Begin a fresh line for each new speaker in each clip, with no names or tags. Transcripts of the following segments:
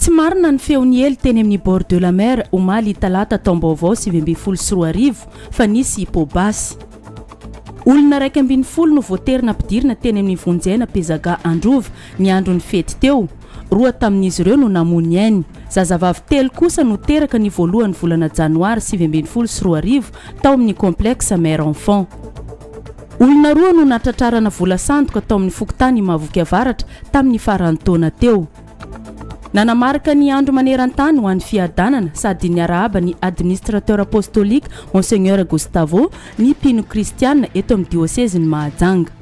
Tsy marina ny feo niely teny amin'ny bord de la mer omaly talata taom-baovao sivy ambin'ny folo sy roa arivo fa nisy hippo-basy. Olona iraika ambin'ny folo no voatery nampidirina teny amin'ny vonjiaina Pezaga Androva ny andron'ny fety teo. Roa tamin'izy ireo no namoa ny ainy. Zazavavy telo kosa no teraka ny voalohan'ny volana janoary sivy ambin'ny folo sy roa arivo tao amin'ny complexe mère-enfant. Olona roa no natratrarana vola sandoka tao amin'ny fokontany Imavoky Avaratra tamin'ny faran'ny taona teo. Nanamarika ny andro maneran-tany ho an'ny fiadanana sady niarahaba ny Administrateur Apostolique Monseigneur Gustavo ny mpino kristiana eto amin'ny diosezin'i Mahajanga.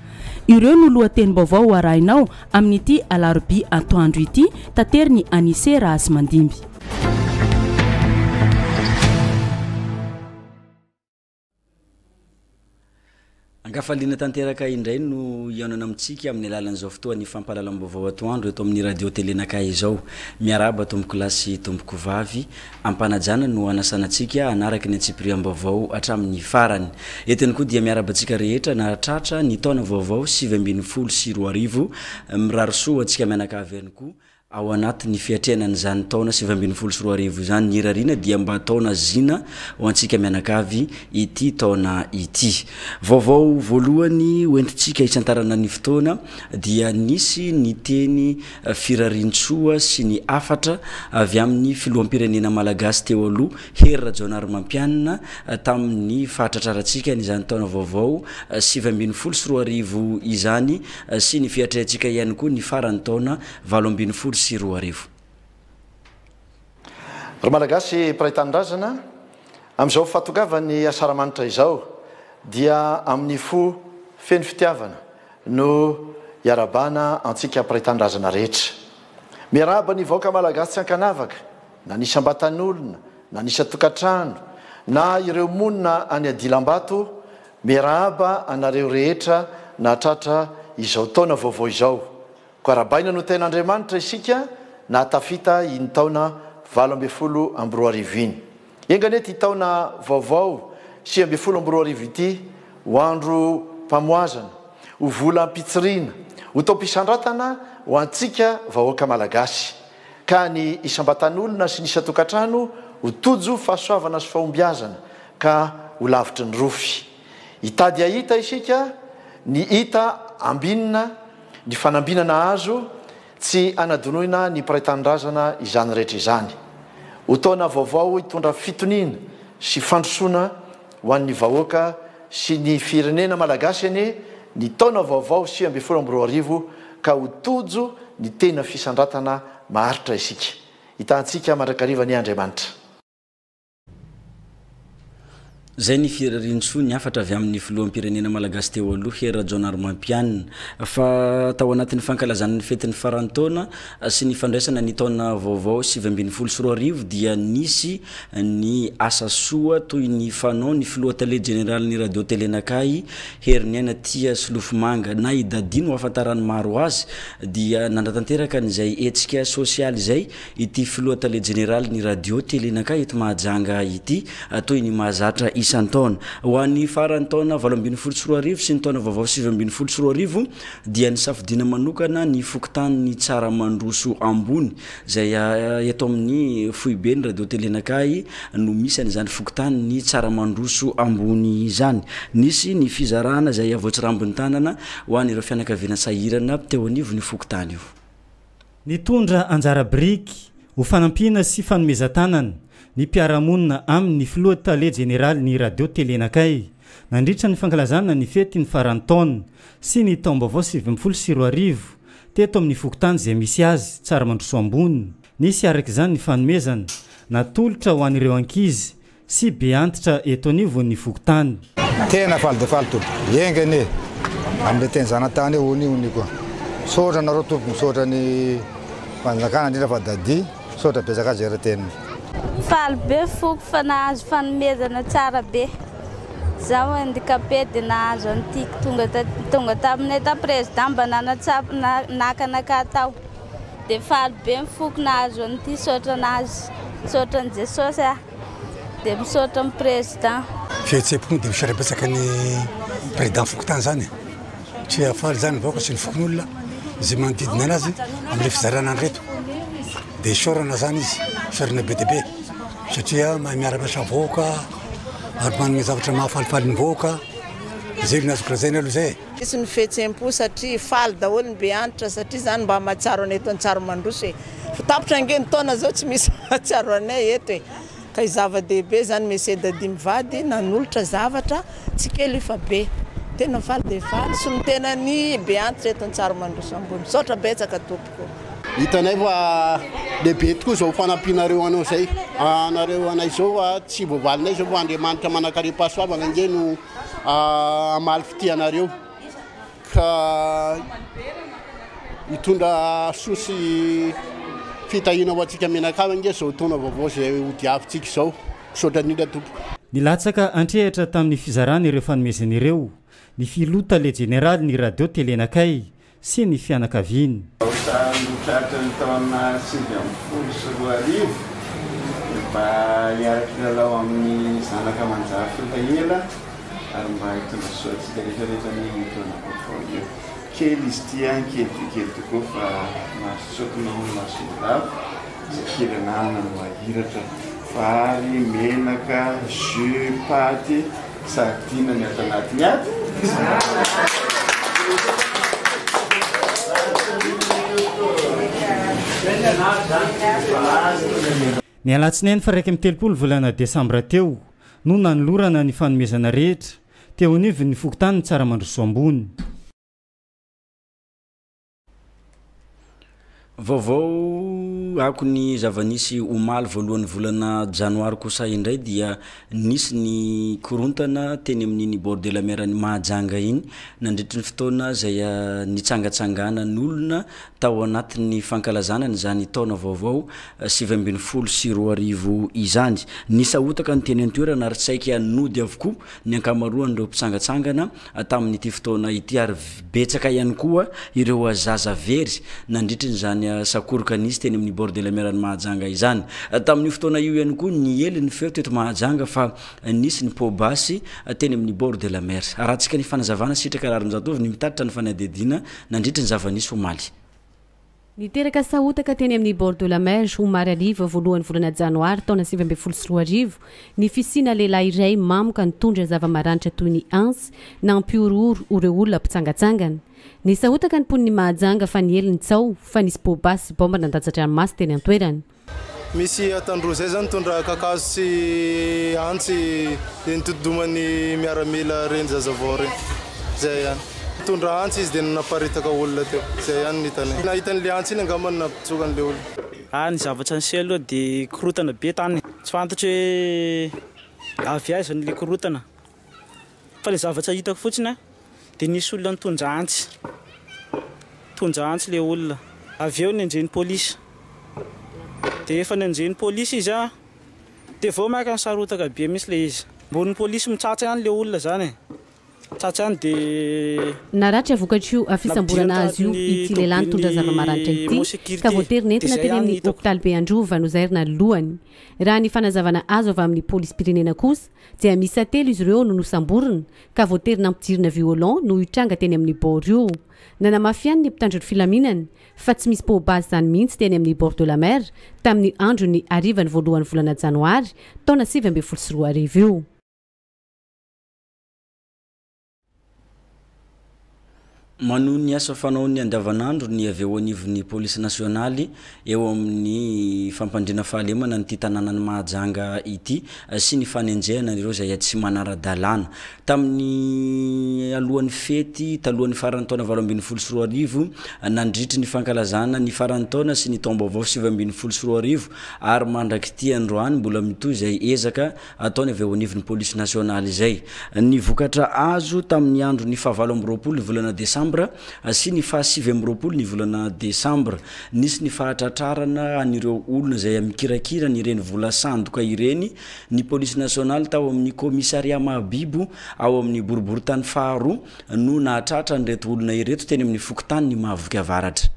Ireo no lohatenim-baovao ho arahinao amin'ity alarobia atoandro ity, taterin'i Anise Rahazimandimby.
An-kafaliana tanteraka indray no hihaonana amintsika amin'ny alalan'izao fotoan'ny fampahalalam-baovao atoandro eto amin'ny Radio Télé Naka izao. Miarahaba tompokolahy sy tompokovavy. Am-panajana no hanasana antsika hanaraka ny antsipiriam-baovao hatramin'ny farany. Eto ihany koa dia miarahaba antsika rehetra nahatratra ny taona vaovao sivy ambin'ny folo sy roa arivo. Mirary soa ho antsika mianakavy ihany koa. Ao anatin'ny fiatrehana an'izany taona sivy ambin'ny folo sy roa arivo izany ny irariana dia mba taona zina ho antsika mianakavy ity taona ity. Vaovao voalohany hoentintsika hisantarana ny fotoana dia nisy ny teny firarian-tsoa sy ny hafatra avy amin'ny filoham-pirenena malagasy teo aloha Hery Rajaonarimampianina tamin'ny fahatratrarantsika an'izany taona vaovao sivy ambin'ny folo sy roa arivo izany sy ny fiatrehantsika ihany koa ny faran'ny taona valo ambin'ny folo sy roa arivo.
Ry Malagasy mpiray tanindrazana, amin'izao fahatongavan'ny Asaramanitra izao dia amin'ny fo feno fitiavana no iarabana antsika mpiray tanindrazana rehetra. Miarahaba ny vahoaka Malagasy tsy ankanavaka, na ny isam-batan'olona, na ny isan-tokantrano, na ireo monina any adilambato, miarahaba anareo rehetra nahatratra izao taona vaovao izao. Koa arahabaina no tenin'Andriamanitra isika nahatafita iny taona valo ambin'ny folo amby roa arivo iny. Enga anie ity taona vaovao sivy ambin'ny folo amby roa arivo ity ho androm-pamohazana, ho volam-pitsiriana, ho taom-pisandratana ho antsika vahoaka Malagasy, ka ny isam-batan'olona sy ny isan-tokantrano ho tojo fahasoavana sy fahombiazana ka ho lavitry ny rofy. Hitady hahita isika ny hita ambinina. Ny fanambinana azo, Tsy anadinoina ny mpiray tanindrazana izany rehetra izany. Ho taona vaovao hitondra fitoniana sy fandrosoana ho an'ny vahoaka sy ny firenena malagasy anie ny taona vaovao sivy ambin'ny folo amby roa arivo ka ho tojo ny tena fisandratana maharitra isika. Hitahantsika mandrakariva anie Andriamanitra.
Izay ny firariantsoa ny hafatra avy amin'ny filoham-pirenena malagasy teo aloha Hery Rajaonarimampianina fa tao anatin'ny fankalazana ny fetin'ny faran'ny taona sy ny fandraisana ny taona vaovao sivy ambin'ny folo sy roa arivo dia nisy ny asa soa toy ny fanao ny filoha tale jeneralin'ny radio tele Nakahy Heriniaina Tia Solofomanga na i Daddy no ahafantaran'ny maro azy dia nanatanteraka an'izay hetsika sosialy izay Ity filoha tale jeneralin'ny radio Telenakay eto Mahajanga ity, toy ny mahazatra isan-taona. Ho an'ny faran'ny taona valo ambin'ny folo sy roa arivo sy ny taona vaovao sivy ambin'ny folo sy roa arivo dia nisafidiana manokana ny fokontanin'ny Tsaramandroso Ambony, izay eto amin'ny foiben'ny radio Telenakay no misy an'izany fokontanin'ny Tsaramandroso Ambony izany. Nisy ny fizarana izay voatsirambin'ny tanana ho an'ireo fianakaviana sahirana teo anivon'io fokontany io. Nitondra
anjara biriky ho fanampiana sy fanomezan-tanana ny mpiara-monina aminy ny Filoha Tale Jeneralin'ny Radio Telenakay nandritra ny fankalazana ny fety ny faran'ny taona sy ny taom-baovao sivy ambin'ny folo sy roa arivo teto amin'ny fokontany izay misy azy, Tsaramandrosoa Ambony. Nisy araka izany ny fanomezana natolotra ho an'ireo ankizy Sy be antitra eto anivo ny fokontany. Tena faly dia
faly tompoko. Enga anie amin'ilay teny zanatany eo ony ony koa. Misaotra anareo tompoko, misaotra ny fanjakana indrindra fa Daddy, misaotra betsaka azy ery teniny. Faly
be foko fa nahazo fanomezana tsara be. Zaho handicapé dia nahazo an'ity tonga tonga taminay tao président mba nanatsapa naka anakah tao. Dia faly be ny foko nahazo an'ity saotra an'azy. Misaotra an'i Jesosy aho. Dia misaotra ny président.
Fihetsem-po moa dia misaotra
betsaka
ny président
fokontany
izany e! Satria faly izany ny vahoaka sy ny fokonolona, izay manodidina anazy amin'ilay fizarana an'ireto. Dia isaorana izany izy, isaorana be dia be satria mahay miara-miasa amin'ny vahoaka ary manome zavatra mahafalifaly ny vahoaka. Izay no azoko lazaina aloha izay e! Hisy ny fihetsem-po
satria faly daholo ny be antitra satria izany mba mahatsiaro anay eto Antsahrimandroso e! Fa tapitra ange ny taona izao tsy misy mahatsiaro anay eto e! Ka i zava-dehibe izany Monsieur Dadi mivady nanolotra zavatra tsy kely io fa be! Tena faly dia faly solon-tena ny be antitra eto Antsahrimandroso ambony! Misaotra betsaka tompoko! Hitanay fa
lehibe tokoa izao fanampianareo anao izay anareo anay izao fa tsy voavalinay izao fa Andriamanitra manankarem-pahasoavana ange no hamaly fitia anareo ka hitondra soa sy fitahiana ho antsika mianakavy ange izao taona vaovao izay hodiavintsika izao. Misaotra indrindra tompoko. Nilatsaka
an-trehatra tamin'ny fizarana ireo fanomezana ireo ny Filoha Tale Jeneralin'ny Radio Telenakay, sy ny fianakaviany. Tamin'ny
tratran'ny taona sivy ambin'ny folo sy roa arivo, dia mba hiara-kilalao amin'ny zanaka manjary tonta ela ary mba hitondra soa antsika rehetra rehetra anie io taona vaovao io. Kely izy ity an, kely dia kely tokoa fa mahazo tsokina hono mason'olava izay kely ananana no ahiratra. Vary, menaka, jus, paty. Sahadina ny ato anatiny ato.
Ny alatsinainy faha iraika amby telopolo volana desambra teo no nanolorana ny fanomezana rehetra teo anivon'ny fokontany Tsaramandrosoa Ambony.
Vaovao ako ny zava-nisy omaly voalohan'ny volana janoary kosa indray dia nisy ny korontana teny amin'iny bord de la mer an'i Mahajanga iny nandritry ny fotoana izay nitsangatsanganan'olona tao anatin'ny fankalazana an'izany taona vaovao sivy ambin'ny folo sy roa arivo izany. Nisahotaka ny teny an-toerana ary saika nody avokoa ny ankamaroan'ireo mpitsangatsangana Tamin'ity fotoana ity ary betsaka ihany koa ireo zaza very nandritry izany sakoroka nisy teny amin'ny bord de la mer any Mahajanga izany. Tamin'io fotoana io ihany koa niely ny feo teto Mahajanga fa nisy ny poa basy teny amin'ny bord de la mer. Haratsaka ny fanazavana Sitraka Raharinjatovo ny mitatitra ny fanadihadiana nandritry ny zava-nisy omaly. Niteraka
sahotaka teny amin'ny Bord de la Mer, omaly hariva, voalohan'ny volana Janoary, taona sivy ambin'ny folo sy roa arivo, ny fisiana lehilahy iray mamoka nitondra zava-maranitra toy ny antsy, nampihorohoro ho ireo olona mpitsangatsangana. Nisahotaka ny mponin'i Mahajanga fa niely ny tsaho fa nisy poa-basy sy baomba nandatsa-dranomaso teny an-toerana. Misy
adiny roa izay izao nitondra kakazo sy antsy dia nitodi-doman'ny miaramila ireny zazavao ireny. Izay ihany. Nitondra antsy izy dia nanaparitaka olona teo. Izay ihany no hitanay. Nahita an'ilay antsy iny angamba no nampitsoaka an'ilay olona. Ary ny zavatra niseho
aloha dia korontana be tany. Tsy fantatro hoe avy aiza ilay korontana Fa ilay zavatra hitako fotsiny an, dia nisy olona nitondra antsy, nitondra antsy ilay olona, avy eo nenjehy ny polisy, dia efa nenjehy ny polisy izy an, dia vao maka nisarotaka be mihintsy ilay izy, ambonin'ny polisy mitsatsa ihany ilay olona izany e, mitsatsa ihany dia. Naratra vokatr'io
fisamborana azy io ity lehilahy nitondra zava-maranitra ity ka voatery nentina teny amin'ny hopitalibe Androva nozairina ny lohany. Raha ny fanazavana azo avy amin'ny polisim-pirenena kosa dia miisa telo izy ireo no nosamborina ka voatery nampijirina violon noho io tranga teny amin'ny bord io. Nanamafy ihany ny mpitandro ny filaminana fa tsy misy pau base izany mihitsy teny amin'ny bord de la mer tamin'ny andron'ny harivan'ny voalohan'ny volana janoary taona sivy ambin'ny folo sy roa arivo io.
Manohy ny asa fanaony andavanandro ny avy eo anivon'ny Polisy Nasionaly eo amin'ny fampandriana fahalemana an'ity tanànan'i Mahajanga ity sy ny fanenjehana an'ireo izay tsy manara-dalàna. Tamin'ny alohan'ny fety talohan'ny faran'ny taona valo ambin'ny folo sy roa arivo, nandritry ny fankalazana ny faran'ny taona sy ny taom-baovao sivy ambin'ny folo sy roa arivo ary mandrak'ity androany mbola mitohy izay ezaka ataony avy eo anivon'ny polisy nasionaly izay. Ny vokatra azo tamin'ny andron'ny fahavalo amby roapolo ny volana desambra sy ny fahasivy amby roapolo ny volana desambra, nisy ny fahatratrarana an'ireo olona izay mikirakira an'ireny vola sandoka ireny ny polisy nasionaly tao amin'ny kaomisaria Mahabibo ao amin'ny boriborintany faharoa no nahatratra an'ireto olona ireto teny amin'ny fokontanin'i Mahavoky Avaratra.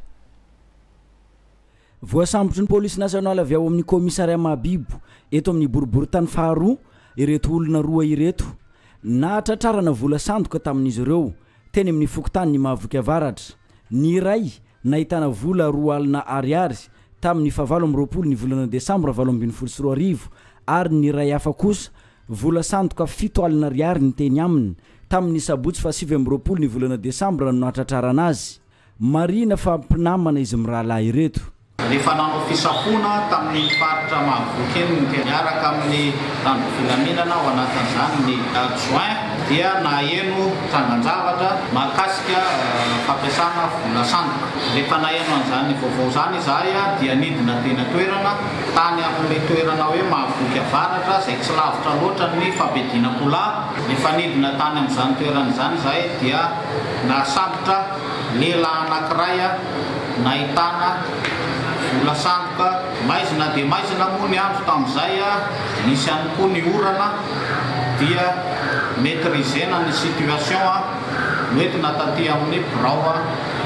Voasambotry ny Polisy Nasionaly avy ao amin'ny Kaomisaria Mahabibo eto amin'ny boriborintany faharoa ireto olona roa ireto. Nahatratrarana vola sandoka tamin'izy ireo teny amin'ny fokontanin'i Mahavoky Avaratra. Ny iray nahitana vola roa alina Ariary tamin'ny fahavalo amby roapolo ny volana desambra valo ambin'ny folo sy roa arivo ary ny iray hafa kosa vola sandoka fito alina Ariary ny teny aminy tamin'ny sabotsy fahasivy amby roapolo ny volana desambra no nahatratrarana azy. Marihina fa mpinamana izy mirahalahy ireto. Rehefa nanao
fisafoana tamin'ny faritra mahavoky enina dia niaraka amin'ny mpitandro filaminana, ao anatin'izany ny adjoint, dia naheno trangan-javatra mahakasika fampiasana vola sandoka. Rehefa naheno an'izany vaovao izany izahay dia nidina teny an-toerana, tany amin'ilay toerana hoe Mahavoky Avaratra izay tsy lavitra loatra ny Fabedin'Akola. Rehefa nidina tany amin'izany toerana izany izahay dia. Nahasambotra lehilahy anankiray nahitana vola sandoka. Maizina dia maizina moa ny andro tamin'izay, nisy ihany koa ny orana dia maitrisena ny situation, noentina taty amin'ny birao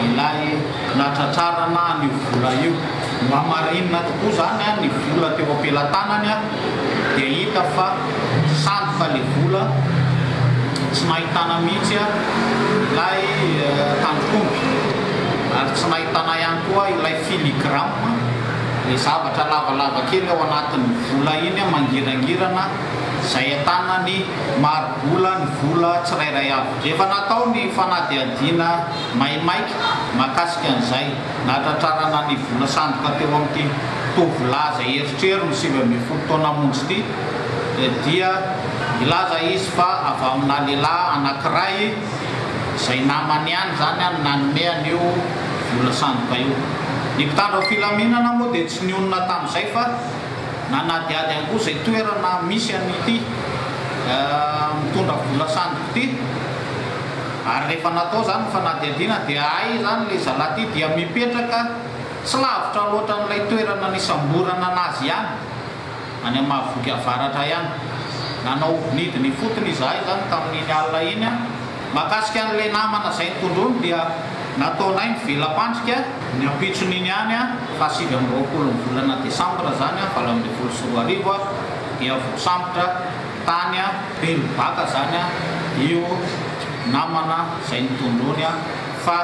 ilay nahatratrarana an'io vola io. Nohamarinina tokoa izany ny vola teo am-pelatanany. dia hita fa sady fa le vola tsy nahitana mihitsy ilay tandrok'omby ary tsy nahitana ihany koa ilay filigrama, le zavatra lavalava kely ao anatin'ny vola iny mangirangirana izay ahitana ny mari-bola ny vola tsirairay avy. Efa natao ny fanadihadiana maimaika mahakasika an'izay. Nahatratrarana ny vola sandoka teo amin'ity tovolahy izay eritrerony sivy ambin'ny folo taona monja ity dia nilaza izy fa avy aminà lehilahy anankiray izay namany ihany izany no nanome an'io vola sandoka io. Ny mpitandro filaminana moa dia tsy nionona tamin'izay fa nanadihady ihany koa izay toerana misy an'ity mitondra vola sandoka ity. Ary rehefa natao izany ny fanadihadiana dia hay izany ilay zalahy ity dia mipetraka tsy lavitra loatra an'ilay toerana nisamborana an'azy ihany, any amin'ny Mahaviboky Avaratra ihany. Nanao ovinidina ifotony izahay izany tamin'iny alina iny. Mahakasika an'ilay namana izay nitondrony dia nataonay ny vela-pandrika. Ny ampitson'iny ihany, fahasivy amby roapolo ny volana desambra izany valo ambin'ny folo sy roa arivo, dia voasambotra tany. Be mibata zany a io namana zay nitondrony a fa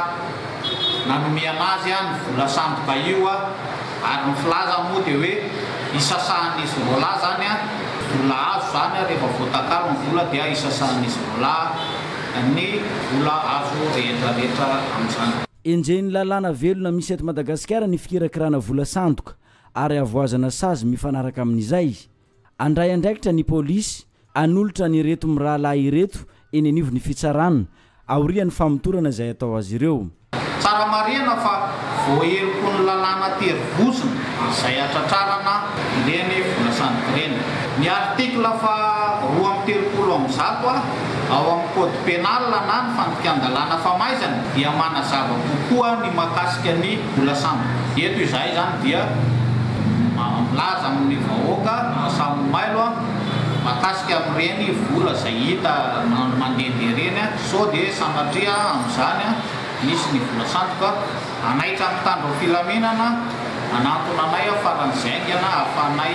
nanome anazy a ny vola sandoka io a ary ny filaza moa de hoe isasahan'izy roalahy zany a vola azo zany a rehefa voatakalo ny vola dia isasahan'izy roalahy ny vola azo rehetrarehetra amin'izany. Enjehin'ny lalàna
velona misy eto Madagasikara ny fikirakirana vola sandoka ary avoazana sazy mifanaraka amin'izay Handray andraikitra ny polisy hanolotra an'ireto mirahalahy ireto eny anivon'ny fitsarana, aorian'ny famotorana izay atao azy ireo. Tsara marihina
fa voaheloky ny lalàna tery vozona izay hatratrarana ireny vola sandoka ireny. Ny article faha roa amby telopolo amby zato A ao amin'ny code pénal na ny fandikan-dalàna famaizana dia manazava kokoa ny mahakasika ny Mbola sambo eto izahay izany dia milaza amin'ny vahoaka samy mailo mahakasika amin'ireny vola izay hita mandehandeha ireny sao dia sanatria amin'izany misy ny vola sandoka hanaitra ny mpitandro ny filaminana hanantona anay faran'izay haingana hahafahanay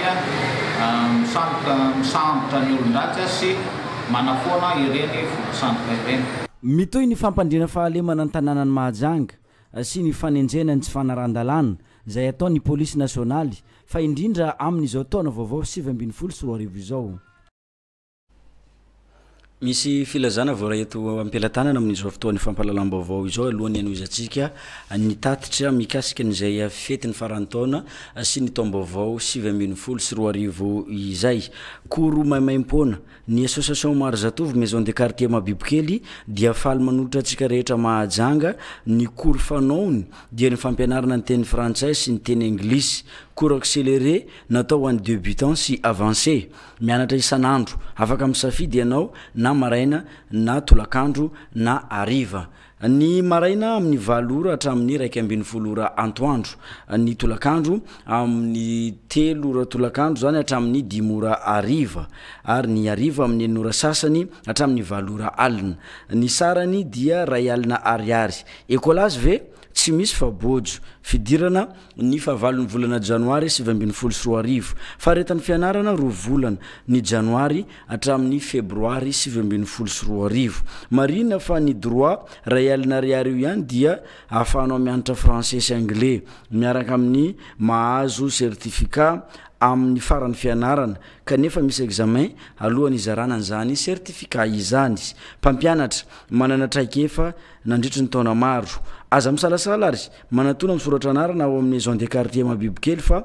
misambotra ny olon-dratsy sy manafoana ireny vola sandoka ireny. Mitohy ny
fampandriana fahalemana ny tanànan'i Mahajanga. sy ny fanenjehana ny tsy fanarahan-dalàna izay ataon'ny Polisy Nasionaly fa indrindra amin'izao taona vaovao sivy ambin'ny folo sy roa arivo izao. Misy filazana voaray eto am-pelatanana amin'izao fotoana fampahalalam-baovao izao alohan'ny hanohizantsika ny tatitra mikasika an'izay fetin'ny faran'ny taona sy ny taom-baovao sivy ambin'ny folo sy roa arivo izay. Koro maimaim-poana Ny Association Maro Zatovo Maison de Quartier Mabibokely dia faly manolotra antsika rehetra Mahajanga ny cours fanaony dia ny fampianarana ny teny frantsay sy ny teny anglisy, cours accéléré natao ho an'ny debutants sy avancés. Mianatra isan'andro. Afaka misafidy ianao na maraina na tolakandro na hariva. Ny maraina amin'ny valo ora hatramin'ny iraika ambin'ny folo ora antoandro. Ny tolakandro amin'ny telo ora tolakandro izany hatramin'ny dimy ora hariva. Ary ny hariva amin'ny enina ora sasany hatramin'ny valo ora alina. Ny sarany dia iray alina ariary. Ecolazy ve? Tsy misy fa bojo. Fidirana ny fahavalon'ny volana janoary sivy ambin'ny folo sy roa arivo. Faharetan'ny fianarana roa volana. Ny janoary hatramin'ny Febroary sivy ambin'ny folo sy roa arivo. Marihina fa ny droit iray alina ariary io ihany dia ahafahanao mianatra français sy anglais, miaraka amin'ny mahazo certificat amin'ny faran'ny fianarana, kanefa misy examen alohan'ny hizarana an'izany certificat izany. Mpampianatra manana traikefa nandritry ny taona maro. Aza misalasala ary manatona misoratra anarana ao amin'ny Maison des Quartiers Mahibibikely fa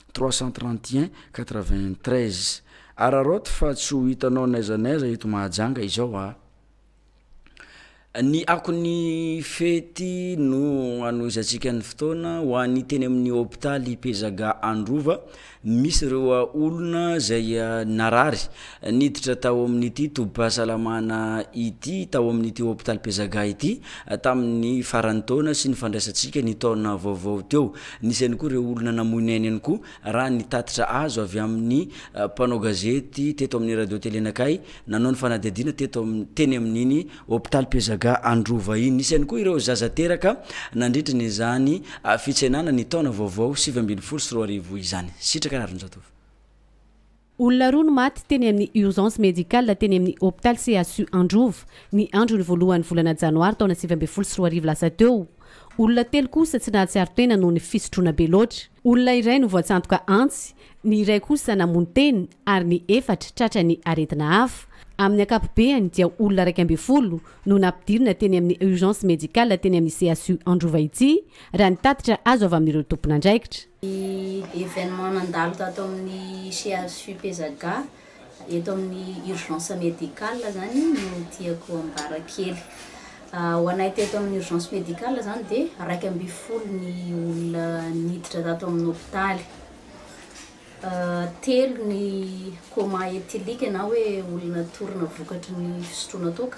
trois cent trente et un quatre vingt treize Araraoty fa tsy ho hitanao n'aiza n'aiza eto Mahajanga izao a! Ny akon'ny fety no anohizantsika ny fotoana ho an'ny teny amin'ny hopitaly Pezaga Androva, misy ireo olona izay narary Niditra tao amin'ity tobim-pahasalamana ity tao amin'ity hopitaly Pezaga ity tamin'ny faran'ny taona sy ny fandraisantsika ny taona vaovao teo. Nisy ihany koa ireo olona namoy ny ainy ihany koa raha ny tatitra azo avy amin'ny mpanao gazety teto amin'ny Radio Tele Anakay nanao ny fanadihadiana teto teny amin'iny hopitaly Pezaga Androva iny. Nisy ihany koa ireo zaza teraka nandritra izany fitsenana ny taona vaovao sivy ambin'ny folo sy roa arivo izany. Sitraka Raharinjatovo.
Olona roa no maty teny amin'ny urgence médicale teny amin'ny hopitaly CHU Androva, ny andron'ny voalohan'ny volana janoary taona sivy ambin'ny folo sy roa arivo lasa teo. Olona telo kosa tsy nahatsiaro tena noho ny fisotroana be loatra. Olona iray no voatsandoka antsy, ny iray kosa namono tena ary ny efatra tratra ny aretina hafa. Amin'ny ankapobeany dia olona iraika ambin'ny folo no nampidirina teny amin'ny urgence médicale teny amin'ny CHU Androva ity, raha ny tatitra azo avy amin'ireo tompon'andraikitra. Ny événement
nandalo tato amin'ny CHU Pezaga eto amin'ny urgence médicale izany no tiako ambara kely. Ho anay teto amin'ny urgence médicale izany dia iraika ambin'ny folo ny olona niditra tato amin'ny hôpitaly. Telo ny coma éthylique na hoe olona torina vokatry ny fisotroana toaka.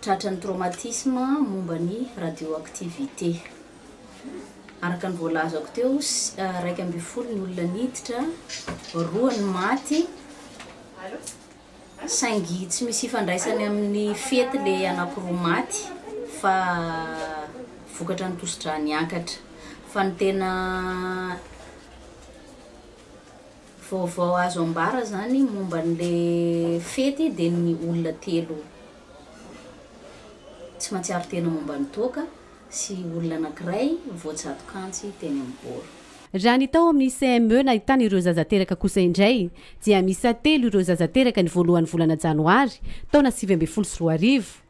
tratran'ny traumatisme momba ny radioactivité. Araka ny voalazako teo, iraika ambin'ny folo ny olona niditra, roa ny maty, saingy tsy misy ifandraisany amin'ny fety le anakiroa maty fa vokatra ny tosi-drà niakatra. Fa ny tena Vaovao azo ambara zany momba anle fety de ny olona telo tsy matsiaro tena momba ny toaka sy olona anakiray voajatokantsy teny amin'ny bor. Raha ny tao
amin'ny CME nahitana ireo zaza teraka kosa indray dia miisa telo ireo zaza teraka ny voalohan'ny volana janoary taona sivy ambin'ny folo sy roa arivo.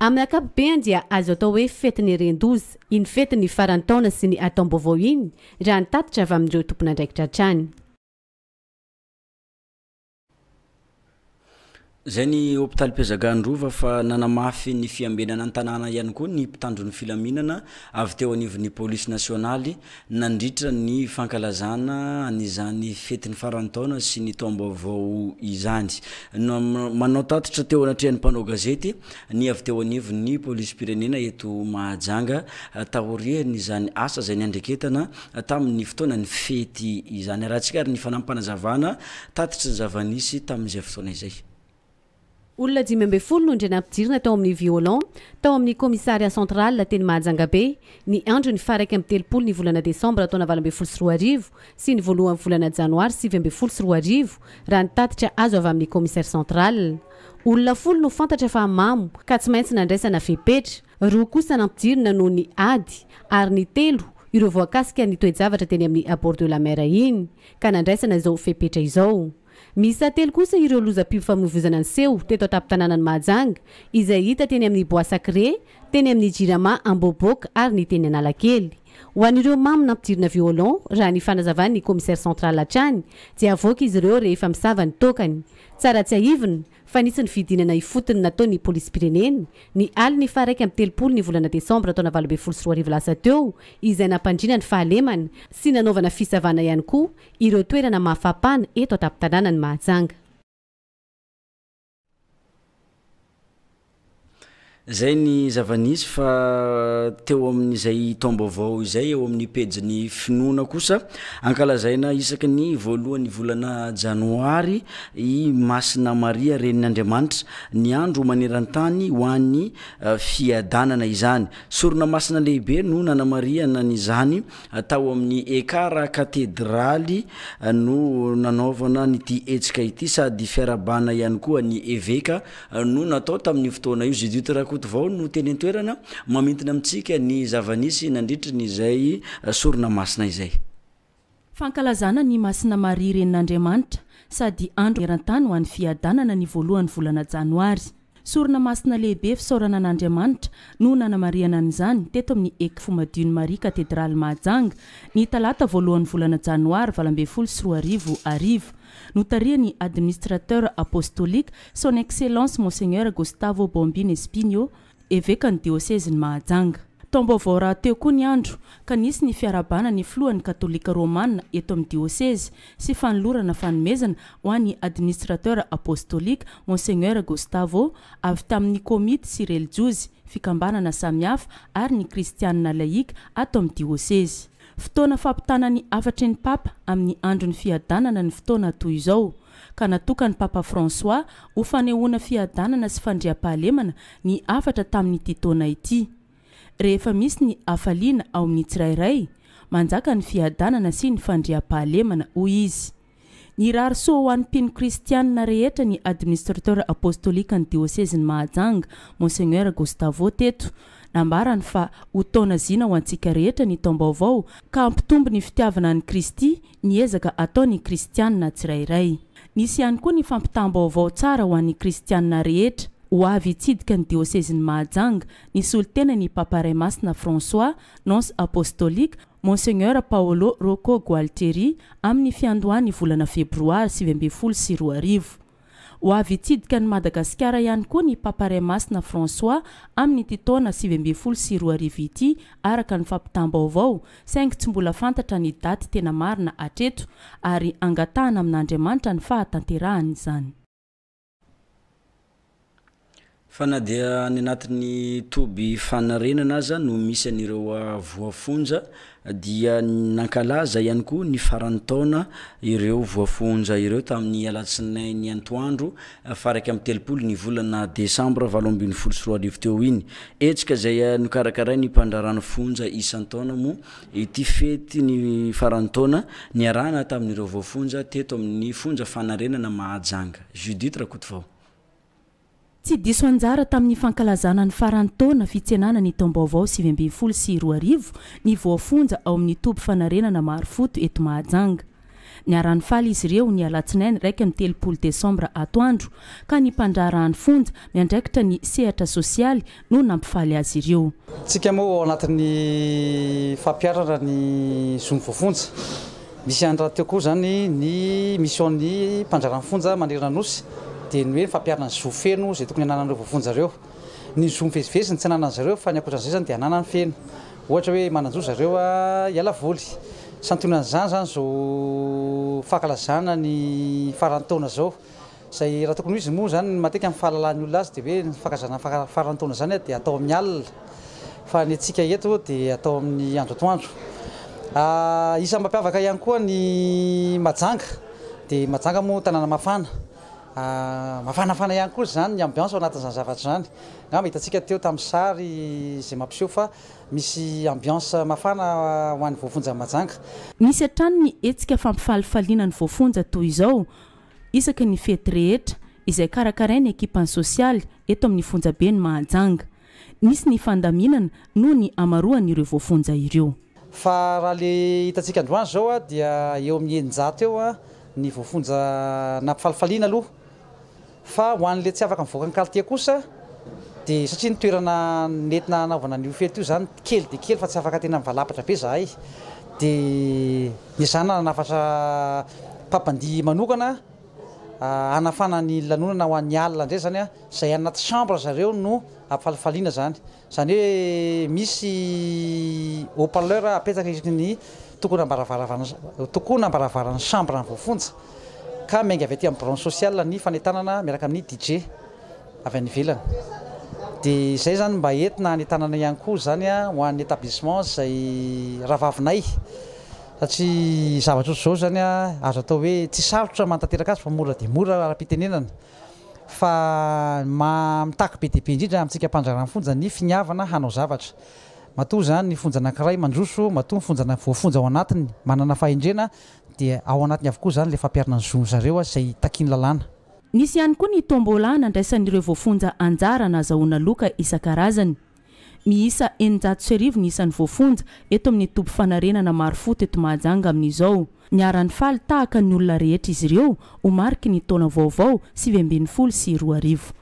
Amin'ny
ankapobeny dia azo atao hoe fetin'ny ren-doza iny fetin'ny faran'ny taona sy ny hataom-baovao iny, raha ny tatitra avy amin'ireo tompon'andraikitra hatrany.
Izay ny hopitaly Mpiazagano Rova fa nanamafy ny fiambenana ny tanàna ihany koa ny mpitandro ny filaminana avy teo anivon'ny polisy nasionaly nandritra ny fankalazana an'izany fetin'ny faran'ny taona sy ny taom-baovao izany. Manao tatitra teo anatrehan'ny mpanao gazety ny avy teo anivon'ny polisim-pirenena eto Mahajanga taorian'izany asa izay niandreketana tamin'ny fotoanan'ny fety izany. Arahantsika ary ny fanampanazavana tatitry ny zava-nisy tamin'izay fotoana izay.
Olona dimy ambin'ny folo no indray nampidirina tao amin'ny violon, tao amin'ny Commissariat central teny Mahajangabe, ny andron'ny faha iraika amby telopolo ny volana desambra taona valo ambin'ny folo sy roa arivo sy ny voalohan'ny volana janoary sivy ambin'ny folo sy roa arivo, raha ny tatitra azo avy amin'ny Commissaire central. Olona folo no fantatra fa mamo ka tsy maintsy nandraisana fepetra, roa kosa nampidirina noho ny ady ary ny telo ireo voakasika ny toe-javatra teny amin'ny Abord de la Mer iny ka nandraisana izao fepetra izao. Miisa telo kosa ireo lozam-pifamoivoizana niseho teto an-tampon-tanànan'i Mahajanga, izay hita teny amin'ny Bois Sacré, teny amin'ny Jirama Ambohibok ary ny teny Analakely. Ho an'ireo mamo nampidirina violon, raha ny fanazavan'ny Commissaire central hatrany, dia avoaka izy ireo rehefa misava ny tôkany. Tsara tsiahivina, fa nisy ny fidinana ifotony nataon'ny Polisim-pirenena, ny alin'ny faha iraika amby telopolo ny volana desambra taona valo ambin'ny folo sy roa arivo lasa teo, izay nampandriana ny fahalemana sy nanaovana fisavana ihany koa ireo toerana mafampana eto an-tampon-tanànan'i Mahajanga.
Izay ny zava-nisy fa teo amin'izay taom-baovao izay eo amin'ny pejin'ny Finoana kosa, ankalazaina isaky ny voalohan'ny volana Janoary i Masina Maria Renin'Andriamanitra, ny andro maneran-tany ho an'ny fiadanana izany. Sorona masina lehibe no nanamarihana an'izany Tao amin'ny ECAR Katedraly no nanaovana an'ity hetsika ity sady fiarahabana ihany koa ny eveka no natao tamin'io fotoana io. Judith Rakotovao no teny an-toerana mamintina amintsika ny zava-nisy nandritra izay sorona masina izay. Fankalazana
an'i Masina Maria Renin'Andriamanitra sady andro maneran-tany ho an'ny fiadanana ny voalohan'ny volana janoary. Sorona masina lehibe fisaorana an'Andriamanitra no nanamarihana an'izany teto amin'ny Ecfo Madion'i Maria Katedraly Mahajanga ny talata voalohan'ny volana janoary valo ambin'ny folo sy roa arivo hariva. Notarihan'ny Administrateur Apostolique, Son Excellence Monseigneur Gustavo Bombino Espinho, Evekan'ny Diosezin'i Mahajanga. Taom-baovao rahateo koa ny andro ka nisy ny fiarahabana ny Filohan'ny Katolika Romana eto amin'ny Diosezy sy fanolorana fanomezana ho an'ny Administrateur Apostolique Monseigneur Gustavo avy tamin'ny Komity sy Relijiozy, Fikambanana samihafa ary ny Kristianina Laïque ato amin'ny Diosezy. Fotoana fampitana ny hafatry ny Papa amin'ny Andron'ny Fiadanana ny fotoana toy izao, ka natokan'ny Papa François ho fanehoana fiadanana sy fandriampahalemana ny hafatra tamin'ity taona ity. Rehefa misy ny hafaliana ao amin'ny tsirairay, manjaka ny fiadanana sy ny fandriampahalemana, hoy izy. Nirary soa ho an'ny mpino kristianina rehetra ny Administrateur Apostolikan'ny Diosezin'i Mahajanga, Monseigneur Gustavo, teto. Nambarany fa ho taona zina ho antsika rehetra ny taom-baovao ka hampitombo ny fitiavana an'i Kristy ny ezaka ataon'ny Kristianina tsirairay. Nisy ihany koa ny fampitam-baovao tsara ho an'ny Kristianina rehetra, ho avy hitsidika ny diosezin'i Mahajanga, nisolo tena ny Papa Ray Masina François, Nonce Apostolique, Monseigneur Paolo Rocco Gualtieri, amin'ny fiandohan'ny volana febroary sivy ambin'ny folo sy roa arivo. Ho avy hitsidika an'i Madagasikara ihany koa ny Papa Ray Masina François amin'ity taona sivy ambin'ny folo sy roa arivo ity araka ny fampitam-baovao saingy tsy mbola fantatra ny daty tena marina hatreto ary angatahana amin'Andriamanitra ny fahatanterahan'izany.
Fa na dia any anatin'ny toby fanarenana aza no misy an'ireo voafonja dia nankalaza ihany koa ny faran'ny taona ireo voafonja ireo tamin'ny alatsinainy antoandro faha iraika amby telopolo ny volana desambra valo ambin'ny folo sy roa arivo teo iny. Hetsika izay nokarakarain'ny mpandraràna fonja isan-taona moa ity fety ny faran'ny taona niarahana tamin'ireo voafonja teto amin'ny fonja fanarenana Mahajanga. Judith Rakotovao.
Tsy diso anjara tamin'ny fankalazana ny faran'ny taona fitsenana ny taom-baovao sivy ambin'ny folo sy roa arivo ny voafonja ao amin'ny toby fanarenana Marofoto eto Mahajanga. Niara-nifaly izy ireo ny alatsinainy iraika amby telopolo desambra atoandro ka ny mpandraharahan'ny fonja miandraikitra ny sehatra sosialy no nampifaly azy ireo. Isika moa ao
anatin'ny fampiharana ny zon'ny voafonja. Misy ihany rahateo koa izany ny mision'ny mpandraharaha ny fonja manerana ny Nosy, dia ny hoe fampiharana ny zo feno izay tokony hananan'ireo voafonja ireo. Ny zo mivezivezy no tsy ananan'ny zareo fa ny ankoatran'izay izany dia ananany feno. Ohatra hoe manan-jo zareo hiala voly. Santionan'izany izany izao fankalazana ny faran'ny taona izao. Izay raha tokony ho izy moa izany matetika amin'ny fahalalahan'ny olona azy dia hoe ny fankazana faran'ny taona izany dia atao amin'ny alina fa ny antsika eto dia atao amin'ny andro atoandro. Isan'ny mampiavaka ihany koa ny Mahajanga dia Mahajanga moa tanàna mafana, mafanafana ihany koa izany ny ambiance ao anatin'izany zavatra izany. Angamba hitantsika teo tamin'ny sary izay mampiseho fa misy ambiance mafana ho an'ny voafonja Mahajanga. Misy hatrany ny
hetsika fampifalifaliana ny voafonja toy izao. isaky ny fety rehetra izay karakarain'ny ekipan'ny sosialy eto amin'ny fonjaben'i Mahajanga. Nisy ny fandaminana noho ny hamaroan'ireo voafonja ireo. Fa raha ilay
hitantsika androany izao dia eo amin'ny eninjato eo ny voafonja nampifalifaliana aloha. Fa ho an'ilay tsy afaka mivoaka ny kalitao kosa dia satria ny toerana nentina hanaovana an'io fety io izany kely dia kely fa tsy afaka tena mivalampatra be izahay dia Ezaha nanafatra mpampandihy manokana hanafana ny lanonana ho an'ny alina indray izany an, izay any anaty chambre zareo no ampifalifaliana izany. Izany hoe misy haut parleur apetraka isaky ny tokonam-baravaravana tokonam-baravaran'ny chambre voafonja ka miainga avy aty amin'ny branche sociale ny fanentanana miaraka amin'ny DJ. avy any ivelany dia izay izany mba entina any an-tanana ihany koa izany ho an'ny établissement izay rahavavinay satria zavatra ohatry izao izany azo atao hoe tsy sarotra manatanteraka azy fa mora dia mora ara-pitenenana fa ny maha mitaky be dia be indrindra amintsika mpandraharaha ny fonja ny finiavana hanao zavatra matoa izany ny fonja anankiray mandroso matoa ny fonja voafonja ao anatiny manana fahendrena dia ao anatiny avokoa izany ilay fampiharana ny zon-dry zareo izay takian'ny lalàna. Nisy ihany koa ny
tombola nandraisan'ireo voafonja anjara nahazahoana loka isan-karazany. Miisa eninjato sy arivo ny isan'ny voafonja eto amin'ny toby fanarenana Marofo teto Mahajanga amin'izao. Niara-nifaly tahaka ny olona rehetra izy ireo ho mariky ny taona vaovao sivy ambin'ny folo sy roa arivo.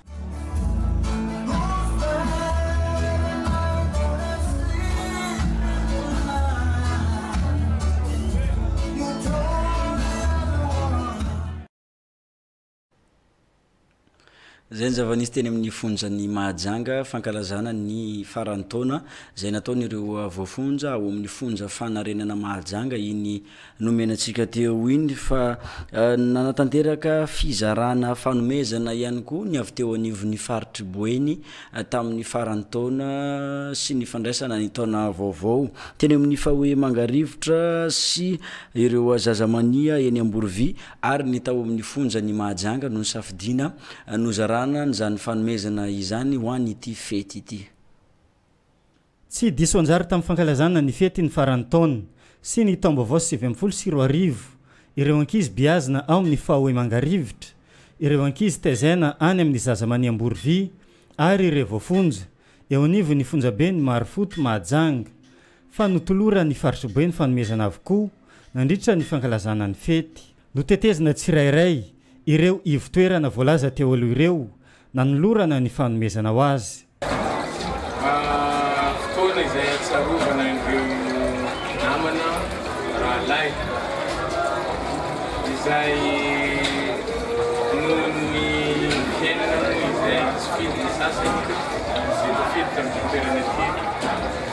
Izay ny zava-nisy teny amin'ny fonjan'i Mahajanga fankalazana ny faran'ny taona izay nataon'ireo voafonja ao amin'ny fonja fanarenana Mahajanga iny nomena antsika teo iny fa eh, nanatanteraka fizarana fanomezana ihany koa ny avy teo anivon'ny faritry Boeny eh, tamin'ny faran'ny taona sy ny fandraisana ny taona vaovao teny amin'ny faoe Mangarivotra sy ireo zazamania eny Amborovy ary ny tao amin'ny fonjan' i Mahajanga no nisafidiana nozarana an'izany fanomezana izany ho an' ity fety ity.
Tsy diso anjara tamin'ny fankalazana ny fety ny faran'ny taona sy ny taom-baovao sivy ambin'ny folo sy roa arivo ireo ankizy beazina ao amin'ny Faoe Mangarivotra, ireo ankizy tezena any amin'ny Zazamania Amborovy ary ireo voafonja eo anivon'ny fonjaben'i Marofoto Mahajanga. Fa notoloran'ny farisobe ny fanomezana avokoa nandritra ny fankalazana ny fety. Notetezina tsirairay ireo ivon-toerana voalaza teo aloha ireo nanolorana ny fanomezana ho azy. Fotoana
izay ahatsiarovana ireo namana, rahalahy, izay noho ny fiainana izay tsy fidiny sasany izay tafiditra amin'ity toerana ity.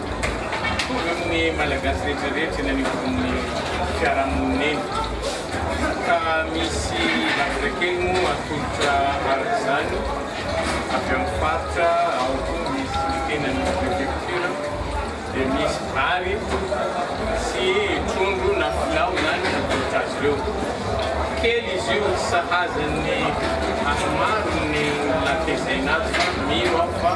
Mitovy amin'ny Malagasy rehetra rehetra eny anivon'ny fiarahamonina eny. Ka misy zavatra kely moa atolotra araka izany avy amin'ny faritra, ao koa misy ny tenany ny préfecture, dia misy vary sy trondro na filao izany atolotra azy ireo. Kely izy io, tsy sahaza ny any maro ny olona tezaina azy fa mino aho fa.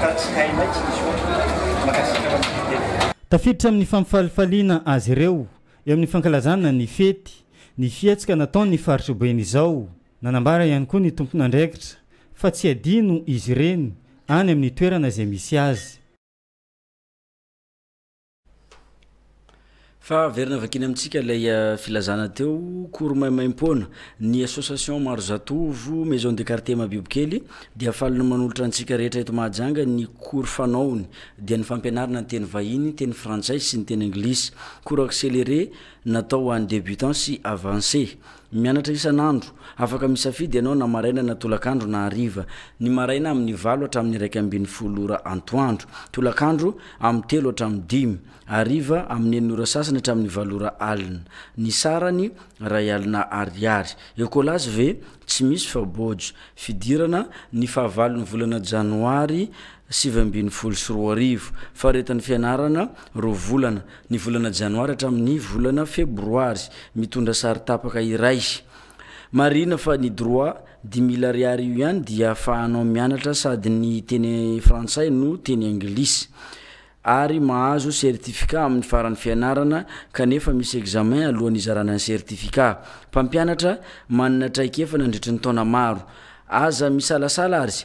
ka tsy hainay tsy nisy ohatrany. Mankasitraka amin'ny fiteny. Tafiditra amin'ny
fampifalifaliana azy ireo eo amin'ny fankalazana ny fety ny fihetsika nataon'ny faritra Boeny izao. Nanambara ihany koa ny tompon'andraikitra fa tsy adino izy ireny any amin'ny toerana izay misy azy.
Fa averina vakina amintsika ilay euh, filazana teo kory maimaim-poana ny association maro zatovo maison de quartier mabibokely dia faly ny manolotra antsika rehetra eto Mahajanga ny kory fanaony dia ny fampianarana ny teny vahiny, teny frantsay sy ny teny anglisy. Cours accéléré natao ho an'ny débutants sy avancés. Mianatra isan'andro. Afaka misafidy ianao na maraina na tolakandro na hariva. Ny maraina amin'ny valo hatramin'ny iraika ambin'ny folo ora antoandro. Tolakandro amin'ny telo hatramin'ny dimy. Hariva amin'ny enina ora sasany hatramin'ny valo ora alina. Ny sarany, iray alina ariary. Ecolas ve? Tsy misy fa Boj. Fidirana, ny fahavalon'ny volana janoary sivy ambin'ny folo sy roa arivo. Faharetan'ny fianarana, roa volana. ny volana janoary hatramin'ny volana febroary, mitondra sary tapaka iray. Marihina fa ny droit dix mille ariary io ihany dia ahafahanao mianatra sady ny teny frantsay no teny anglisy ary mahazo certificat amin'ny faran'ny fianarana kanefa misy examen alohan'ny hizarana ny certificat. Mpampianatra manana traikefa nandritry ny taona maro. Aza misalasala ary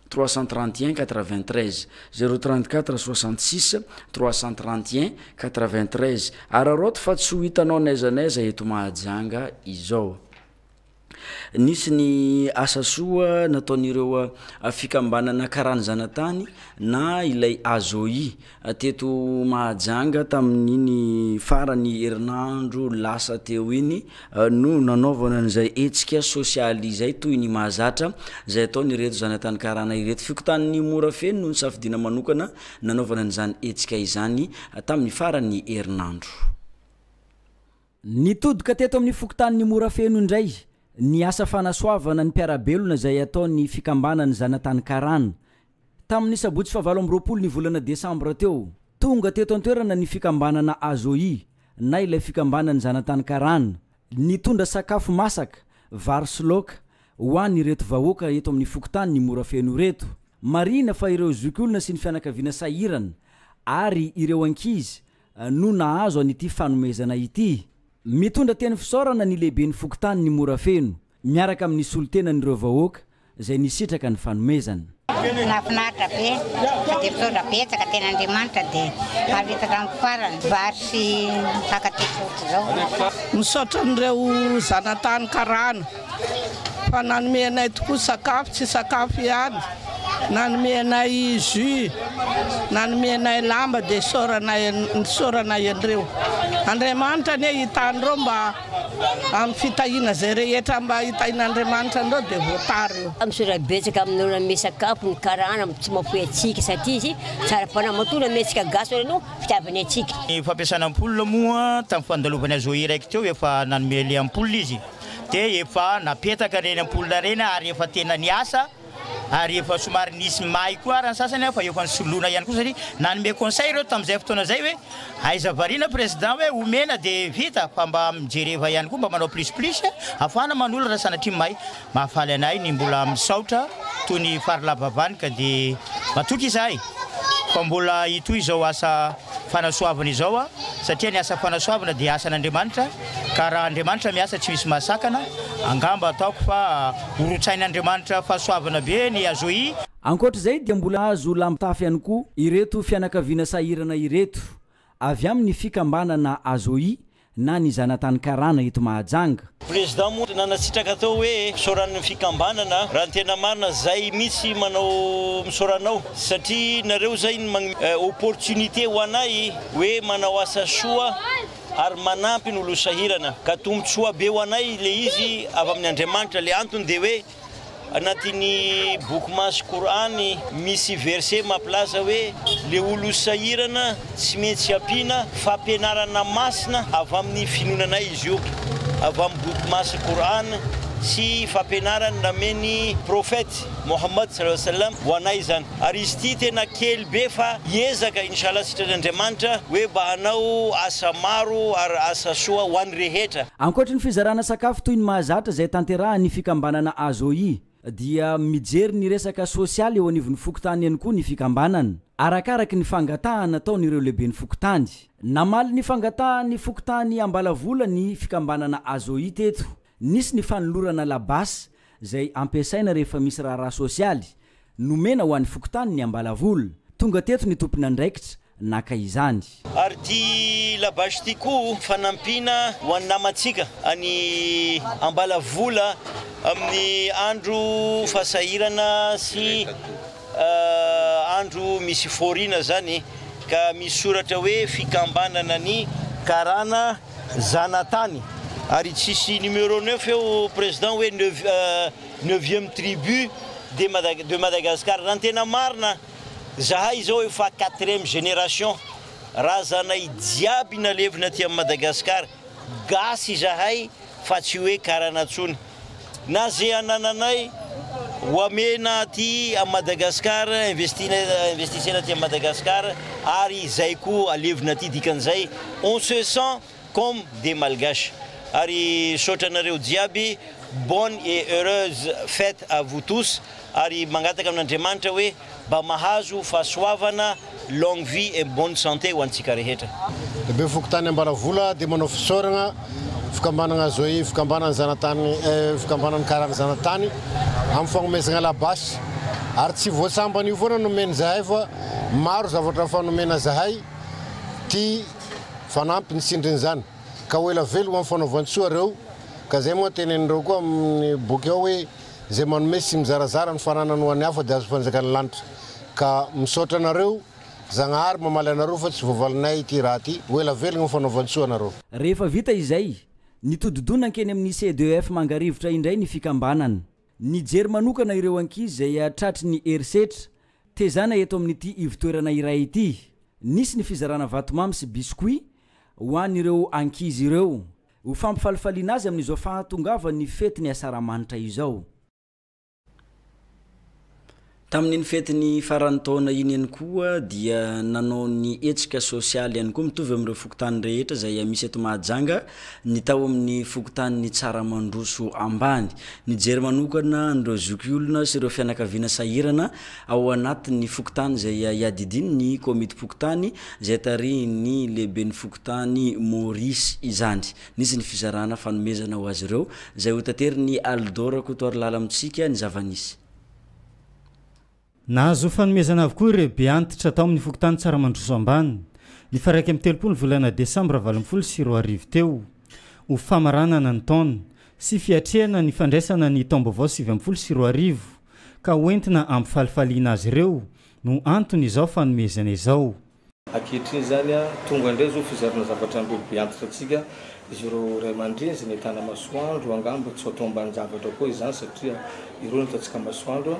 trois cent trente et un quatre vingt treize zero trente quatre soixante six trois cent trente et un quatre vingt treize araraoty fa tsy ho hitanao n'aiza n'aiza eto Mahajanga izao Nisy ny asa soa nataon'ireo fikambanana karany zanatany na ilay AJOI Teto Mahajanga tamin'iny farany herinandro lasa teo iny no nanaovana an'izay hetsika sosialy izay toy ny mahazatra izay ataon'ireto zanatany karana ireto. Fokontanin'i Morafeno no nisafidiana manokana nanaovana an'izany hetsika izany tamin'ny faran'ny herinandro.
Nitodika teto amin'ny fokontanin'i Morafeno indray ny asa fanasoavana ny mpiara-belona izay ataon'ny fikambanan'ny zanatany karana Tamin'ny sabotsy fahavalo amby roapolo ny volana desambra teo, tonga teto an-toerana ny fikambanana Azohi na ilay fikambanan'ny zanatany karana, nitondra sakafo masaka, vary sy laoka, ho an' ireto vahoaka eto amin'ny fokontanin'i Morafeno ireto. Marihina fa ireo zokiolona sy ny fianakaviana sahirana ary ireo ankizy no nahazo an'ity fanomezana ity. Mitondra teny fisaorana ny lehiben'ny fokontanin'i Morafeno, miaraka amin'ny solontenan'ireo vahoaka izay nisitraka ny fanomezana. Nahafinaritra
be fa dia misaotra betsaka tena Andriamanitra dia haharitaka amin'ny farany vary sy mpifankatia sotra izao. Misaotra an'ireo
zanatany karana fa nanome anay tokoa sakafo, tsy sakafo ihany, nanome anay jus, nanome anay lamba dia isaorana isaorana anreo. Andriamanitra anie hitany ireo mba. Amin'ny fitahiana izay rehetra mba hitahian'Andriamanitra an'ireo dia voatara io. Misaotra betsaka amin'ny olona
hanome sakafo ny karana mba tsy mahafoy antsika satria izy tsara fanahy matoa nanome antsika gasy oran'ny hoe fitiavany antsika. Ny fampiasana ampoule
moa tamin'ny fandalovany azy Zohiraiko teo efa nanome ilay ampoule izy dia efa napetaka ireny ampoule ireny ary efa tena niasa ary efa somary nisy may koa ary ny sasany an fa efa nisoloana ihany koa satria nanome conseil ireo tamin'izay fotoana izay hoe aiza variana président hoe omena de vita fa mba mijereva ihany koa mba manao plus plus afahana manolo raha sanatria may mahafaly anay ny mbola misaotra toy ny farlabavany ka de matoky izahay fa mbola hitohy izao asa fanasoavana izao aho, satria ny asa fanasoavana dia asan'Andriamanitra, ka raha Andriamanitra miasa tsy misy mahasakana, angamba ataoko fa horotsain'Andriamanitra fahasoavana be ny Azohi. Ankoatra izay dia
mbola azo lamitafy ihany koa ireto fianakaviana sahirana ireto avy amin'ny fikambanana Azohi na ny zanatany karana eto Mahajanga. Président moa
nanasitraka tao hoe fisaoran'ny fikambanana raha ny tena marina zay mitsy manao misaora anao satria nareo zay no magnme opportunité ho anay hoe manao asa soa ary manampy ny olo sahirana ka tombotsoa be ho anay le izy avy amin'ny Andriamanitra le antony de hoe Anatin'ny boky masy Kor'any, misy verset mampilaza hoe le olo sahirana tsy mentsy ampiana fampianarana masina avy amin'ny finoananay izy io, avy amin'ny boky masy Kor'any sy fampianarany namen'ny Prophète Mohammed sallallahu alayhi wa sallam ho anay izany. Ary izy ity tena kely be fa hiezaka inshallah sitran' Andriamanitra hoe mba hanao asa maro ary asa soa ho an'ny rehetra. Ankoatry ny fizarana
sakafo toy ny mahazatra izay tanterahan'ny fikambanana AZOI dia mijery ny resaka sosialy eo anivon'ny fokontany ihany koa ny fikambanana, arakaraky ny fangatahana ataon'ireo lehiben'ny fokontany. Namaly ny fangatahan'ny fokontany Ambalavola ny fikambanana AZOI teto. Nisy ny fanolorana labasy izay ampiasaina rehefa misy raharaha sosialy, Nomena ho an'ny fokontany ny Ambalavola. Tonga teto ny tompon'andraikitra naka izany. Ary ity
labache ity koa fanampiana ho an'ny namantsika any Ambalavola amin'ny andro fasahirana sy andro misy fôriana izany ka misy soratra hoe fikambanana ny karana zanatany ary tsisy numéro neuf eo président hoe neuvième neuvième tribu de Mada de Madagascar raha ny tena marina zahay izao efa quatrième génération razanay jiaby nalevina aty am Madagascar gasy izahay fa tsy hoe karana tsony na ze anananay ho amena aty am Madagascar investina investisena aty am Madagascar ary zay koa alevina aty dikan'izay on se sent Comme des malgaches ary misaotra anareo jiaby bonne et heureuse fête à vous tous ary mangataka amin'Andriamanitra hoe mba mahazo fahasoavana longue vie et bonne santé ho antsika rehetra. Be fokontany
Ambaravola dia manao fisaoragna fikambanagna Zoe fikambanan'ny zanatany fikambanan'ny karana zanatany amin'ny fagnomezagna labasy ary tsy voatsambany io foana no omeny zahay fa maro zavatra hafa nomena zahay ty Fanampy ny tsindrin'izany, ka ho ela veloma amin'ny fanaovan-tsoa ireo, ka izay moa tenenin'ireo koa amin'ny boky ao hoe, izay manome sy mizarazara ny fananany ho an'ny hafa dia azo fanjakan'ny lanitra. Ka misaotra anareo, Zagnahary mamaly anareo fa tsy voavalinay ity raha ity, ho ela velogna ny fanaovan-tsoa anareo. Rehefa vita izay,
nitodi-doha nankeny amin'ny CEDEF Mangarivotra indray ny fikambanana. Nijery manokana ireo ankizy izay tratry ny herisetra, tezana eto amin'ity ivotoerana iray ity. Nisy ny fizarana vatomamy sy biscuits ho an'ireo ankizy ireo, ho fampifalifaliana azy amin'izao fahatongavan'ny fetin'ny Asaramanitra izao.
Tamin'iny fetin'ny faran'ny taona iny ihany koa dia nanao ny hetsika sosialy ihany koa mitovy amin'ireo fokontany rehetra izay misy eto Mahajanga ny tao amin'ny fokontanin'i Tsaramandroso Ambany. Nijery manokana an'ireo zokiolona sy ireo fianakaviana sahirana ao anatin'ny fokontany izay iadidiany ny komitim-pokontany izay tarihin'ny lehiben'ny fokontany Maurice izany. Nisy ny fizarana fanomezana ho azy ireo izay hotaterin'i Alidô Rakotoarilala amintsika ny zava-nisy.
Nahazo fanomezana avokoa ireo be antitra tao amin'ny fokontany Tsaramandroso Ambany, ny faha iraika amby telopolo ny volana desambra valo ambin'ny folo sy roa arivo teo, ho famaranana ny taona sy fiatrehana ny fandraisana ny taom-baovao sivy ambin'ny folo sy roa arivo ka hoentina ampifalifaliana azy ireo no anton'izao fanomezana izao. Ankehitriny
izany, tonga indray izao fizarana zavatra an'ireo be antitra antsika, izy ireo ray aman-dreny izay nahitana masoandro, angamba tsy ho atao ambanin-javatra koa izany satria ireo no hitantsika masoandro,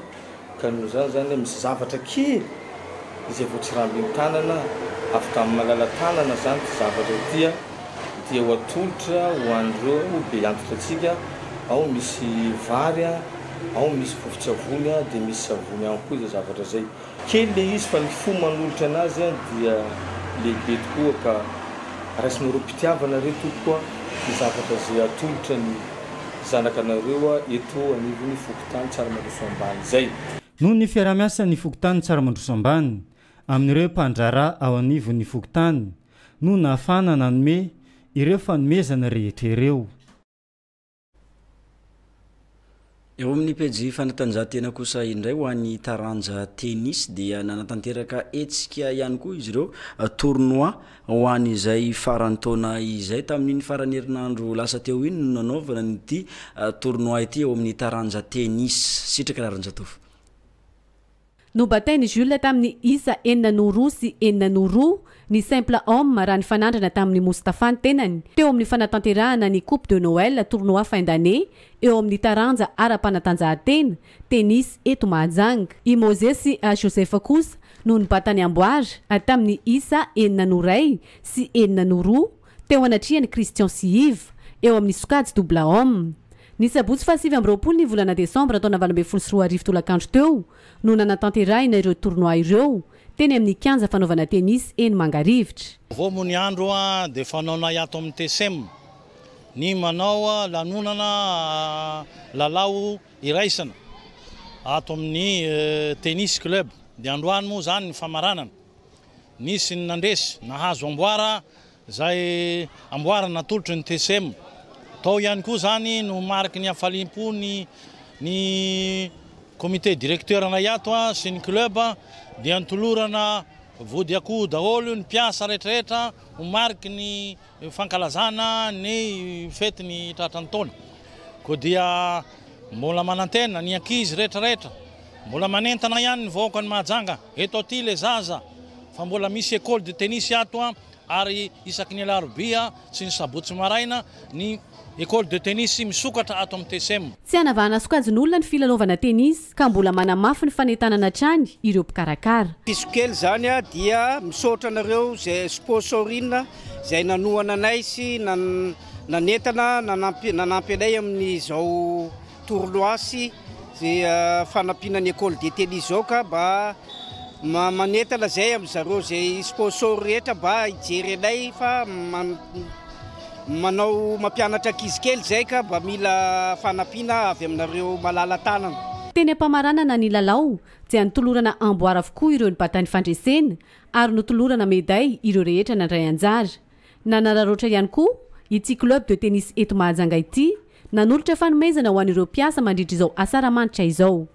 ka noho izany izany misy zavatra kely izay vao tsirambin-tanana avy tamin'ny malala-tanana izany ity zavatra ity dia ho atolotra ho an'ireo be antitra antsika, ao misy vary, ao misy vovo-tsavony dia misy savony ihany koa izay zavatra izay. Kely le izy fa ny fo manolotra anazy an dia lehibe tokoa ka raisinareo pitiavana re tompoko a ny zavatra ze atolotra ny zanaka anareo a eto anivon'ny fokontany Tsaramandroso ambany izay. Noho ny fiarahamiasan'ny
fokontany Tsaramandroso ambany amin'ireo mpandraharaha ao anivon'ny fokontany no nahafahana nanome ireo fanomezana rehetra ireo.
Eo amin'ny pejy fanatanjahantena kosa indray ho an'ny taranja tennis dia nanatanteraka hetsika ihany koa izy ireo tournoi ho an'izay faran'ny taona izay tamin'iny faran'ny herinandro lasa teo iny no nanaovana an'ity tournoi ity eo amin'ny taranja tennis. Sitraka Raharinjatovo.
Nobatain'i Jules tamin'ny isa enina noho roa sy enina noho roa ny simple homme raha nifanandrana tamin'i Moustapha ny tenany, teo amin'ny fanatanterahana ny Coupe de Noël, tournoi fin d'année, eo amin'ny taranja ara-panatanjahantena, tennis, eto Mahajanga. I Moses Joseph kosa no nibata ny amboara, tamin'ny isa enina noho iray sy enina noho roa, teo anatrehan'i Christian sy Yves, eo amin'ny sokajy Double Homme. Ny sabotsy fahasivy amby roapolo ny volana desambra taona valo ambin'ny folo sy roa arivo tolakandro teo no nanatanterahina ireo tournoi ireo, teny amin'ny kianja fanaovana tennis eny Mangarivotra. Vao moa ny andro
dia fanaonay ato amin'ny TSEM ny manao lanonana lalao iraisana ato amin'ny Tennis Club, dia androany moa izany ny famaranana. Nisy ny nandresy nahazo amboara izay amboara natolotry ny TCM. Tao ihany koa izany no mariky ny hafaliam-pon'ny ny comité directeur-nay ato sy ny club dia nolorana vody akoho daholo ny mpiasa rehetrarehetra ho mariky ny fankalazana ny fety ny tratran'ny taona koa dia mbola manantena ny ankizy rehetra rehetra mbola manentana ihany ny vahoaka ny mahajanga eto aty le zaza fa mbola misy ecole de tennis ato ary isaky ny alarobia sy ny sabotsy maraina ny Ecole de tennis misokatra ato amin'ny TSEM. Tsy hanavahana
sokajin'olona ny filalaovana tennis ka mbola manamafy ny fanentanana hatrany ireo mpikarakara. Diso kely izany
dia misaotra anareo izay sponsorin izay nanohana anay sy nanentana nanampy anay amin'izao Tournois sy zay fanampiana ny Ecole de Tennis zao ka mba manentana zay amin zareo zay sponsor rehetra mba hijery anay fa manao mampianatra ankizy kely zay ka mba mila fanampiana avy aminareo malala tanana. Teny am-pamaranana
ny lalao dia notolorana amboara avokoa ireo nibata ny fandresena ary notolorana meday ireo rehetra nandray anjara. Nanararaotra ihany koa ity club de tennis eto Mahajanga ity Nanolotra fanomezana ho an'ireo mpiasa mandritra izao asaramanitra izao.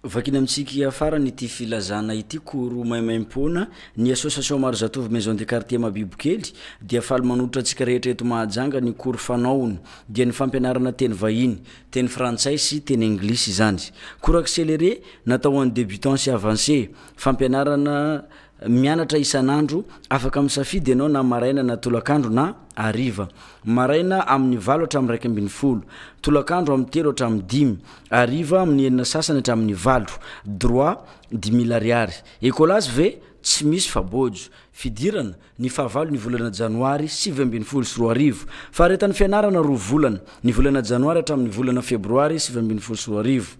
Vakina amintsika hiafarany ity filazana ity, Koro maimaimpoana, Ny Association Marizatovo Maison de Quartier Mabibokely dia faly manolotra antsika rehetra eto Mahajanga ny koro fanaony dia ny fampianarana teny vahiny, teny frantsay sy teny anglisy izany. Koro accéléré natao ho an'ny débutants sy avancés, fampianarana Mianatra isan'andro, afaka misafidy ianao na maraina na tolakandro na hariva. Maraina amin'ny valo hatramin'ny iraika ambin'ny folo, tolakandro amin'ny telo hatramin'ny dimy, hariva amin'ny enina sasany hatramin'ny valo. Droit, dimy mille ariary. Ecolas ve? Tsy misy fa bojo. Fidirana, ny fahavalon'ny volana janoary sivy ambin'ny folo sy roa arivo. Faharetan'ny fianarana roa volana, ny volana janoary hatramin'ny volana febroary sivy ambin'ny folo sy roa arivo.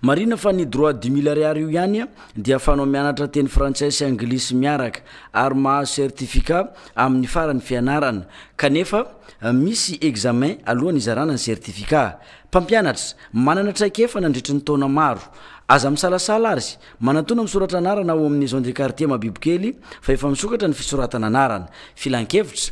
Marina fa ny droit du mille ariary io ihany dia afahanao mianatra teny frantsay sy anglisy miaraka ary mahazo certificat amin'ny faran'ny fianarana kanefa misy examen alohan'ny hizarana ny certificat. Mpampianatra manana traikefa nandritry ny taona maro. Aza misalasala ary manatona misoratra anarana ao amin'ny maison de quartier Mabibokely fa efa misokatra ny fisoratana anarana. Filankevitra.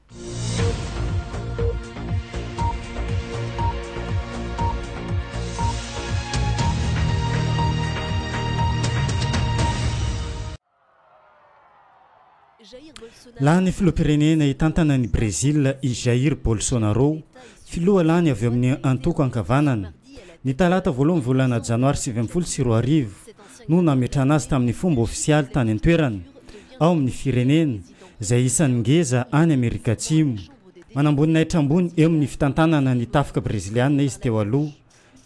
Lany filoham-pirenena hitantana an'i Brezila i Jair Bolsonaro, filoha lany avy amin'ny antoko ankavanana. Ny talata voalohan'ny volana janoary sivy ambin'ny folo sy roa arivo no nametrahana azy tamin'ny fomba ofisialy tany an-toerana ao amin'ny firenena. izay isan'ny ngeza any Amerika Atsimo. Manamboninahitra ambony eo amin'ny fitantanana ny tafika breziliana izy teo aloha,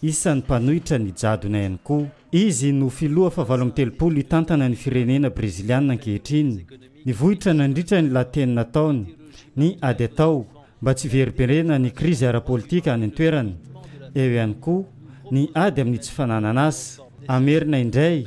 isan'ny mpanohitra ny jadona ihany koa. Izy no filoha fahavalo amby telopolo hitantana ny firenena breziliana ankehitriny. Nivoitra nandritra ny lahateny nataony ny ady atao mba tsy hiverimberena ny krizy ara-politika any an-toerana. Eo ihany koa ny ady amin'ny tsy fananan'asa. Hamerina indray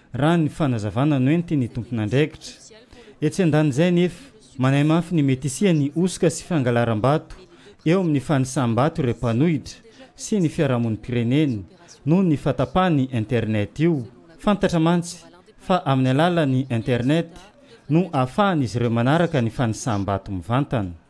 raha ny fanazavana noentin'ny tompon'andraikitra. Etsy an-danin'izay anefa, manahy mafy ny mety hisian'ny hosoka sy fangalaram-bato eo amin'ny fanisam-bato ireo mpanohitra sy ny fiarahamonim-pirenena noho ny fahatapahan'ny Internet io. Fantatra mantsy fa amin'ny alalan'ny Internet no ahafahan'izy ireo manaraka ny fanisam-bato mivantana.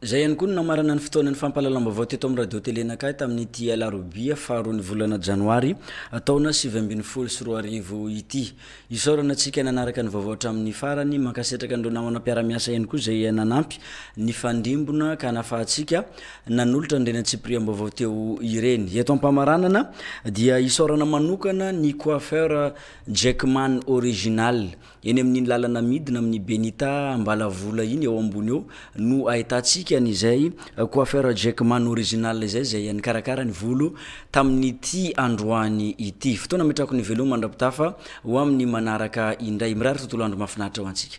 Izay ihany koa no namarana ny fotoanan'ny fampahalalam-baovao teto amin'ny Radio Télé Nakai tamin'ity alarobia faharoan'ny volana janoary taona sivy ambin'ny folo sy roa arivo ity. Isaorana antsika nanaraka ny vaovao hatramin'ny farany. Mankasitraka an'ireo namana mpiara-miasa ihany koa izay nanampy nifandrimbona ka nahafahantsika nanolotra an'ireny antsipiriam-baovao teo ireny. Eto am-pamaranana dia isaorana manokana ny Coiffeur Jackman Original Eny amin'iny lalana midina amin'ny Benita Ambalavola iny eo ambony eo no ahitantsika an'izay coiffeur Jack Man original izay, izay nikarakara ny volo tamin'ity androany ity. Fotoana ametrahako ny veloma mandra-pitafa ho amin'ny manaraka indray. Mirary tontolo andro mahafinaritra ho antsika.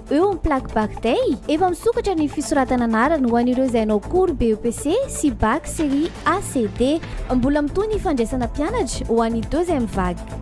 Eo ny plaque bac day, efa misokatra ny fisoratana anarana ho an'ireo izay hanao cours BEPC sy bac série A, C, D. Mbola mitohy ny fandraisana mpianatra ho an'ny deuxième vague.